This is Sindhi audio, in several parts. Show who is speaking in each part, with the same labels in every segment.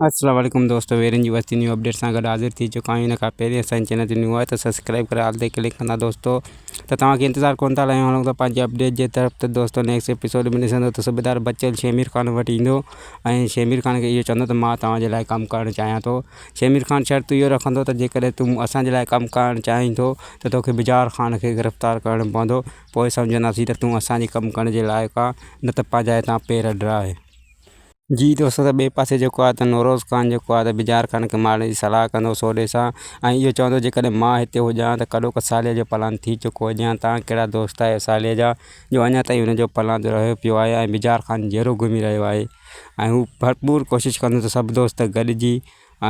Speaker 1: السلام عليڪم دوستو ويرين جي وستي نيو اپڊيٽ سان گڏ حاضر ٿي چڪا آهيون ان کان پهرين اسان چينل تي نيو آهي ته سبسڪرائب ڪري آل تي ڪلڪ ڪندا دوستو ته توهان کي انتظار ڪون ٿا لهيون هلون ٿا پنهنجي اپڊيٽ جي طرف ته دوستو نيڪسٽ ايپيسوڊ ۾ ڏسندو ته صوبيدار بچل شيمير خان وٽ ايندو ۽ شيمير خان کي اهو چوندو ته مان توهان جي لاء ڪم ڪرڻ چاهيان ٿو شيمير خان شرط اهو رکندو ته جيڪڏهن تون اسان جي لاء ڪم ڪرڻ چاهين ٿو ته توکي بجار خان کي گرفتار ڪرڻو پوندو پوء سمجهنداسين ته تون اسان جي ڪم ڪرڻ جي لائق آهين نه ته پنهنجا هتان پير اڏرائي جي ته اسان سان ٻئي پاسي جيڪو آهي ته نوروز خان جيڪو آهي ته بجار خان کي مارڻ جي صلاح ڪندو هو سوڏي سان ۽ اهو چوندو هو جيڪڏهن مان هتي هجان ها ته ڪڏو ڪو صالح جو پلان ٿي چڪو هجي ها تان ڪهڙا دوست آهيو صالح جا جو اڃا تائين ان جو پلان جو رهيو پيو آهي ۽ بجار خان جهيڙو گهمي رهيو آهي ۽ هو ڀرپور ڪوشش ڪندو هو ته سڀ دوست گڏجي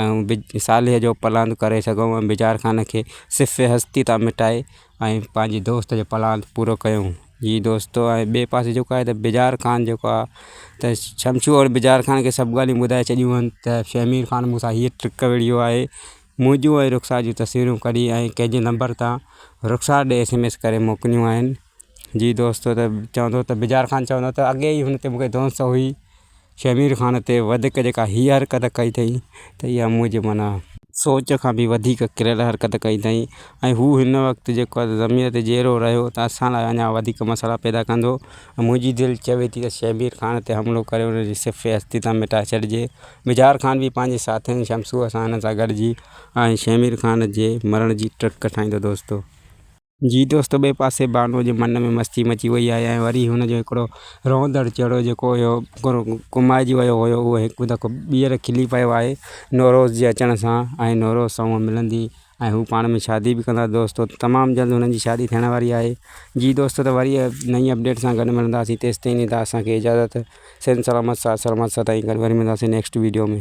Speaker 1: ۽ صالح جو پلان ڪري سگهون ۽ بجار خان کي صفر هستي تان مٽائي ۽ پنهنجي دوست جو پلان پورو ڪيون. جي دوست ۽ ٻئي پاسي جيڪو آهي ته بجار خان جيڪو آهي ته شمشو ۽ بجار خان کي سڀ ڳالهيون ٻڌائي ڇڏيون هن ته شهمير خان مون سان هيء ٽرڪ وڙهيو آهي. منهنجون ۽ رخسار جون تصويرون ڪڍي ۽ ڪنهن جي نمبر تان رخسار ڏي ايس ايم ايس ڪري موڪليون آهن. جي دوست چوندو ته بجار خان چوندو ته اڳي ئي هن تي مون کي دونست هئي. شهمير خان تي وڌيڪ جيڪا هيء حرڪت ڪئي اٿئي ته اها منهنجي معنيٰ سوچ کان به وڌيڪ ڪريل حرڪت ڪئي اٿئي ۽ هو هن وقت جيڪو آهي ضمير تي جيئرو رهيو ته اسان لاء اڃا وڌيڪ مسئلا پيدا ڪندو ۽ منهنجي دل چوي ٿي ته شهمير خان تي حملو ڪري ان جي صفحي هستي تان مٽائي ڇڏجي. مجهار خان به پنهنجي ساٿين شمسوء سان هن سان گڏجي ۽ شهمير خان جي مرڻ جي ٽرڪ ٺاهيندو دوستو! جي دوست ٻئي پاسي بانوء جي من ۾ مستي مچي وئي آهي ۽ وري هن جو هڪڙو روئندڙ چهرو جيڪو هيو ڪمائجي ويو هيو اهو هڪ دفعو ٻيهر کلي پيو آهي نوروز جي اچڻ سان ۽ نوروز سان هوء ملندي ۽ هو پاڻ ۾ شادي به ڪندا دوستو تمام جلد هنن جي شادي ٿيڻ واري آهي جي دوستو ته وري نئين اپڊيٽ سان گڏ ملنداسين تيستائين ڏيندا اسان کي اجازت صحت سلامت ساٿ سلامت سدائين گڏ وري ملنداسين نيڪسٽ ويڊيو ۾.